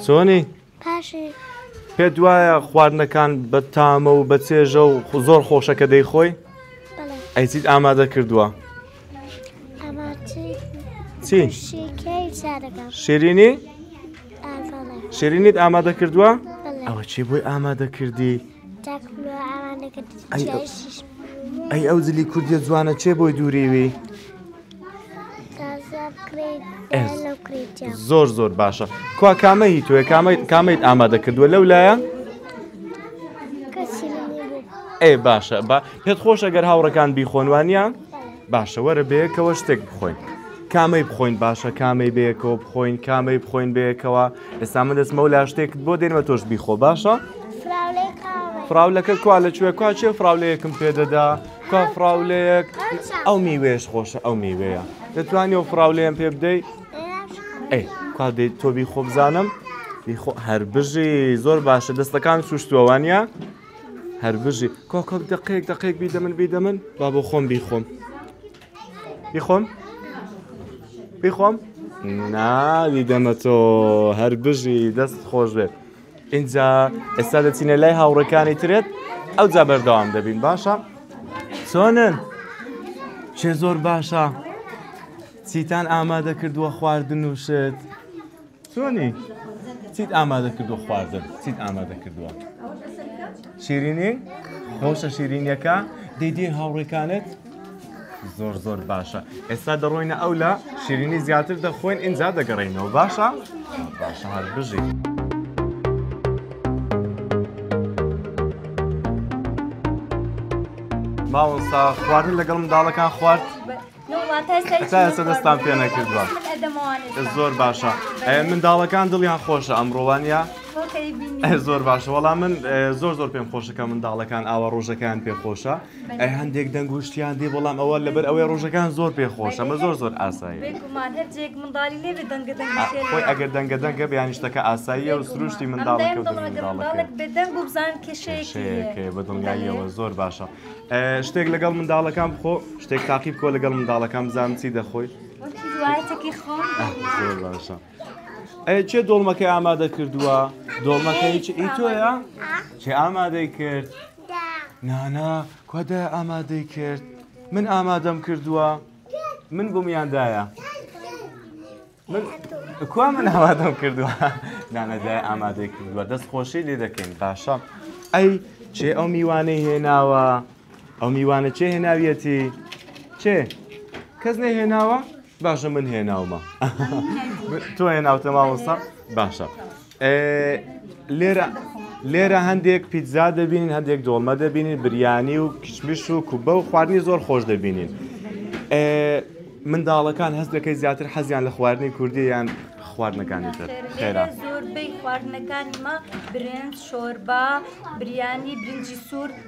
چۆنی؟ باشی. پێت وایە خواردنەکان بە تامە و بە چێژە و زۆر خۆشە کە دەیخۆی؟ بەڵێ. ئەی چیت ئامادە کردووە؟ چی؟ شیرینی؟ شیرینیت ئامادە کردووە؟ ئەوە چی بۆی ئامادە کردی؟ ئەی ئەو جلی کوردیە جوانە چێ بۆی دووریوی؟ زۆر زۆر باشە کوا کامە هی توێ کامەیت کامەیت ئامادە کردووە لەو لایە ئێ باشە بە پێت خۆشە گەر هاوڕەکان بیخۆنوانە باشە وەرە بەیەکەوە شتێک بخۆین کامەی بخۆین باشە کامەی بەیەکەوە بخۆین کامەی بخۆین بەیەکەوە ئێستا من دەستمە و لا شتێک بۆ دێنمە تۆش بیخۆ باشە فراولەکە کوا لە کوێ کوا چێ فراولەیەکم پێدەدا کا فراولەیەک ئەو میوێش خۆشە ئەو میوەیە دەتوانانی و فراولەیەم پێ بدەیت ئەی کا دەیت تۆبی خۆ بزانم بیخۆ هەر بژی زۆر باشە دەستەکان سوشتووەوانە هەر بژی کۆکەک دقێک دقێک بیدە من بیدە من با بۆ خۆم بیخۆم بیخۆم بیخۆم ناوی دەمە تۆ هەر بژی دەست خۆش بێت ئینجا ئێستا دەچینە لای هاوڕێکانی ترت ئەوجا بەردەوام دەبین باشە چۆنن چێ زۆر باشە چیتان ئامادە کردووە خواردن و شت چۆنی چیت ئامادە کردووە خواردن چیت ئامادە کردووە شیرینی خۆشە شیرینیەکە دەیدی هاوڕێکانت زۆر زۆر باشە ئێستا دەڕۆینە ئەو لە شیرینی زیاتر دەخۆین ئینجا دەگەڕێینەوە باشە باشە هەر بژی. ماوەستا خواردن لەگەڵ منداڵەکان خوارد ئێستا دەستان پێ نەکردوە زۆر باشە منداڵەکان دڵیان خۆشە ئەمڕۆوانە زۆر باشە وەڵام من زۆر زۆر پێم خۆشەکە منداڵەکان ئاوە ڕۆژەکان پێ خۆشە ئەی هەندێک دەنگ و شتیان دێ بەڵام ئەوە لەبەر ئەوەی ڕۆژەکان زۆر پێ خۆش ئەمە زۆر زۆر ئاسایی خۆی ئەگەر دەنگە دەنگە بیانی شتەکە ئاساییە و سروشتی منداڵەکە بە دڵنیاییەوە زۆر باشە شتێک لەگەڵ منداڵەکان بخۆ شتێک تاقیب کۆ لەگەڵ منداڵەکان بزانسی دەخۆی باشە ئەی چێ دۆڵمەکەی ئامادە کردووە دۆڵمەکەی چ ئی تۆیە چێ ئامادەی کرد نانا کۆدا ئامادەی کرد من ئامادەم کردووە من بوومیاندایە من کوا من ئامادەم کردووە نانەدای ئامادەی کردووە دەست خۆشی لێ دەکەین باشە ئەی چێ ئەو میوانەی هێناوە ئەو میوانە چێ هێناویەتی چێ کەس نەی هێناوە باشە من هێناومە تۆ هێناوتە ماوەستا باشە لێرە لێرە هەندێک پیتزا دەبین هەندێک دۆڵمە دەبینین بریانی و کچمیش و کوبە و خواردنی زۆر خۆش دەبینین منداڵەکان هەست دەکەی زیاتر حەزیان لە خواردنی کوردیان خواردنەکانی تر خێرا زۆربەی خواردنەکانی ما برنج شۆربا بریانی برنجی سوور